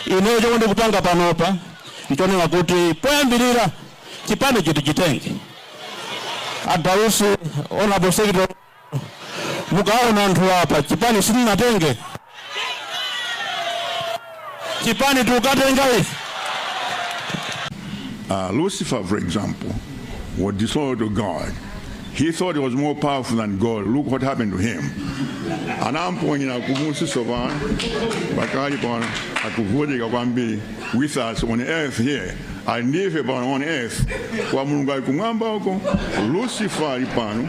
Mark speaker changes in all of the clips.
Speaker 1: Ineyo chomwe ndikupanga panopa nchonena kuti poyambirira chipanicho tichitenge. A Dausi, Hon. Secretary, mukaona anthuwa apa, chipani simunatenge? Chipani tikutenga ife. Uh, Lucifer, for example, was disobedient to God. He thought he was more powerful than God. Look what happened to him. Anamponyera kumusi so pano akali pano akuvutika kwambiri with us on earth here. Ali ndi ife pano on earth kwa Mulungu ali kumwamba uko Lucifer ali pano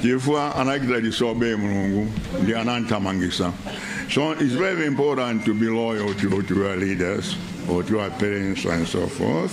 Speaker 1: chifukwa anachita disobey Mulungu ndi anamthamangisa. So it's very important to be loyal to, to your leaders or to your parents and so forth.